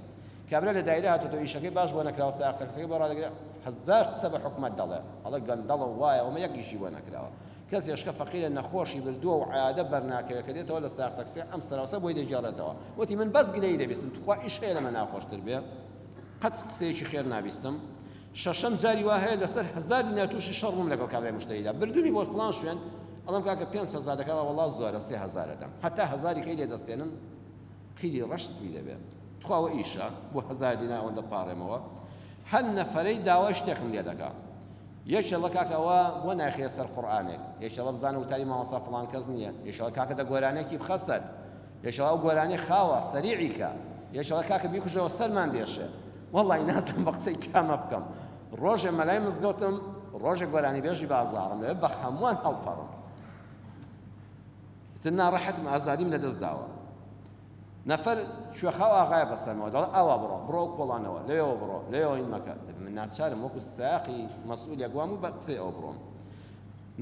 [SPEAKER 1] کابرا لە دایرە هاتۆتەوە ئیشەکەی باش بۆ نەکراوە سایەق تەکسیەکەی بۆ ڕادەگرێ هەزار قسە بە حکومەت دەڵێ ئەڵێ گەندەڵە و وایە ومە یەک ئیشی بۆ نەکراوە کەس هێشکە فەقیرە نەخۆشی بردووە و عیادە بەرناکەوێ کە دێتەوە لە سایەق تەکسیە ئەم سەراوسە بۆی دەگێڕێتەوە وتی من بەس گلەیی دەبیستم توخوا ئیش هەیە لەمە ناخۆشتر بێ قەت قسەیەکی خێر نابیستم شەشەم جاری وا هەیە لەسەر هەزار دینار تووشی شەڕ بووم لەگەڵ کابرای مشتریدا بردوومی بۆ فڵان شوێن ئەڵێم کاکە پێنج هەزار دەکەم وەڵڵا زۆرە سێ هەزارە دەم هەتا هەزاری کەی لێ دەستێنم قیری ڕەش سپی دەبێ. تخوا ئەوە ئیشە؟ بۆ هەزار دینار ئەوەندە پاڕێمەوە؟ هەر نەفەرەی داوای شتێکم لێ دەکا. یەکێڵە کاکە ئەوە بۆ نایخەیە سەر قورئانێک؟ یەکێڵە بزانە وتاری مامۆستا فڵان کەس نییە. یەکێڵە کاکە دە گۆرانێکی بخە سەر. یەکێڵە ئەو گۆرانیە خاوە، سەریعی کە. یەکێڵە کاکە بیکوژەوە سەرمان دێشێ. وەڵڵاهی نازانم بە قسەی کامە بکەم. ڕۆژێ مەلای مزگەوتم، ڕۆژێ گۆرانیبێژی بازاڕم، دەبێ بە هەمووان هەڵپەڕم. ئیتر ناڕەحەتم ئازادیم لەدەست داوە. نەفەر کوێخاو ئاغایە بەسەرمەوە دەڵێ ئاوا بڕۆ، بڕۆ ئەو کۆڵانەوە، لەوێوە بڕۆ، لەوێوە هین مەکە. دەبێ من ناچارم وەکو سایەقی مەسئولێک وام و بە قسەی ئەو بڕۆم.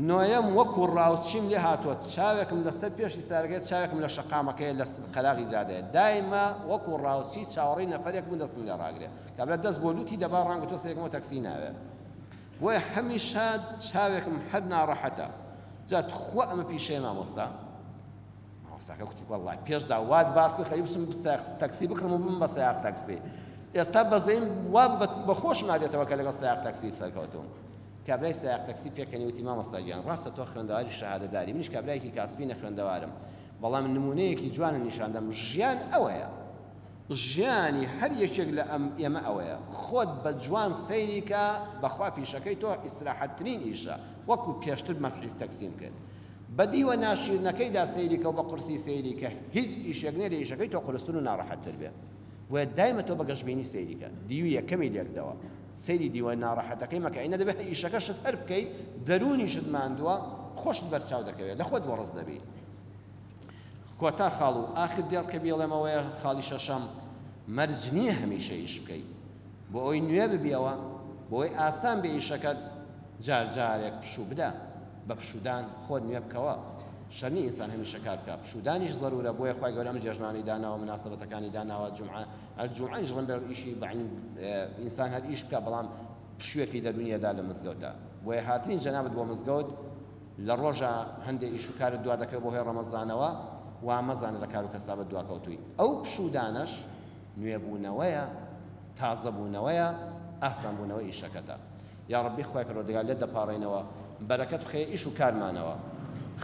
[SPEAKER 1] نۆیەم وەکو ڕاوچیم لێ هاتووە، چاوێکم لەسەر پێشی سارەگەیە، چاوێکم لە شەقامەکەیە، لە قەراغی جادەیە. دایمە وەکو ڕاوچی چاوەڕێی نەفەرێک بووم دەستم لێ ڕاگرێ. کابرا دەست بۆ لووتی دەبا، ڕانگرتووە سەیرەکەمەوە تەکسی ناوێ. بۆیە هەمیشە چاوێکم هەر ناڕەحەتە جا توخوا ئەمە پیشەیە مامۆستا؟ مامۆستاکە کوتی وەڵڵای پێش دا وات باس کرد خەریک بچم تەکسی بکڕم و بم بە سەیاق تەکسی ئێستا بەزەیم وا بە خۆشم نادێتەوە کە لەگەڵ سەیاق تەکسی سەرکەوتوم کابرای سایق تەکسی پێکەنی وتی مامۆستا گیان ڕاستە تۆ خوێندەواری شەهادەداری منیش کابرایەکی کاسپی نەخوێندەوارم بەڵام نمونەیەکی جوانە نیشاندەم ژیان ئەوەیە ژیانی هەر یەکێک لە ئێمە ئەوەیە خۆت بە جوان سەیری کە بەخوا پیشەکەی تۆ ئیسراحەت ترین ئیشە وەکو پێشتر مەتحی تەکسیم کرد بە دیوە ناشیرنەکەیدا سەیری کە و بە قورسی سەیری کە هیچ ئیشێک نیە لە ئیشەکەی تۆ قورستر و ناڕەحەت تر بێ بۆیە دایمە تۆ بە گەشبینی سەیری کە دیوی یەکەمی لێکدەوە سەیری دیوە ناڕەحەتەکەی مەکە ئینە دەبێت ئیشەکەشت هەر بکەی دەرونیشت ماندووە خۆشت بەرچاو دەکەوێت لە خۆت وەڕس دەبی. کۆتا خاڵ و ئاخر دێڕ کە بیڵێمەوەیە خاڵی شەشەم مەرج نییە هەمیشە ئیش بکەیت بۆ ئەوەی نوێ ببیەوە بۆ ئەوەی ئاسان بێ ئیشەکەت جار جارێک پشوو بدە بە پشوودان خۆت نوێ بکەوە شەر نییە ئینسان هەمیشە کار بکە پشوودانیش زەرورە بۆیە خوای گەورە ئەم جێژنانەی داناوە مناسبەتەکانی داناوە جومعە جومعەش ڕەن بەر ئیشی بەعین ئینسان هەر ئیش بکە بەڵام پشوویەکی دەرونیەدا لە مزگەوتە بۆیە هاتنی جەنابەت بۆ مزگەوت لە ڕۆژا هەندێ ئیش و کارت دوا دەکەوێ بەهۆی ڕەمەزانەوە وا مەزانە لە کار و کەسابت دواکەوتووی ئەو پشوودانەش نوێبوونەوەیە تازەبوونەوەیە ئاسانبوونەوەی ئیشەکەتە یاڕەبی خوای پەروەردگار لێت دەپاڕێینەوە بەرەکەت بخەیە ئیش و کارمانەوە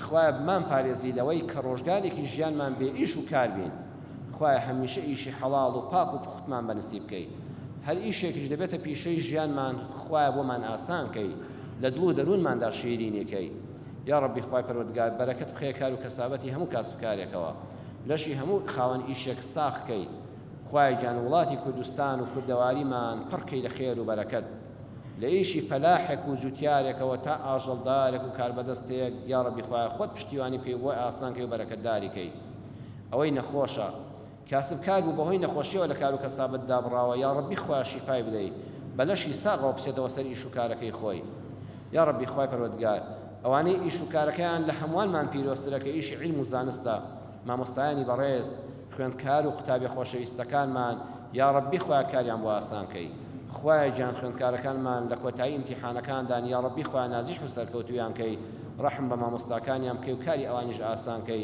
[SPEAKER 1] خوایە بمانپارێزی لەوەی کە ڕۆژگارێکی ژیانمان بێ ئیش و کار بین خوایە هەمیشە ئیشی حەڵاڵ و پاک و پوختمان بەنسیب بکەی هەر ئیشێکیش دەبێتە پیشەی ژیانمان خوایە بۆمان ئاسان کەی لە دڵ و دەروونماندا شیرینی کەی یاڕەبی خوای پەروەردگار بەرەکەت بخەیە کار و کەسابەتی هەموو کاسب کارێکەوە لەشی هەموو خاوەن ئیشێک ساخ کەی خوایە گیان وڵاتی کوردستان و کوردەواریمان پڕ کەی لە خێر و بەرەکەت لە ئیشی فەلاحێک و جوتیارێکەوە تا ئاژەڵدارێک و کاربەدەستێک یاڕەبی خوایە خۆت پشتیوانی بکەی و بۆی ئاسان کەی و بەرەکەتداری کەی ئەوەی نەخۆشە کاسبکار بوو بەهۆی نەخۆشیەوە لە کارو کەسابەت دابڕاوە یاڕەبی خوایە شیفای بدەی بە لەشی ساغەوە بچێتەوە سەر ئیش و کارەکەی خۆی یاڕەبی خوای پەروەردگار ئەوانەی ئیش و کارەکەیان لە هەموانمان پیرۆزترە کە ئیشی عیلم و زانستە مامۆستایانی بەڕێز خوێندکار و قوتابیە خۆشەویستەکانمان یاڕەبی خوایە کاریان بۆ ئاسان کەی خوایە گیان خوێندکارەکانمان لە کۆتایی ئیمتیحانەکاندان یاڕەبی خوایە ناجیح و سەرکەوتویان کەی ڕەحم بە مامۆستاکانیان بکەی و کاری ئەوانیش ئاسان کەی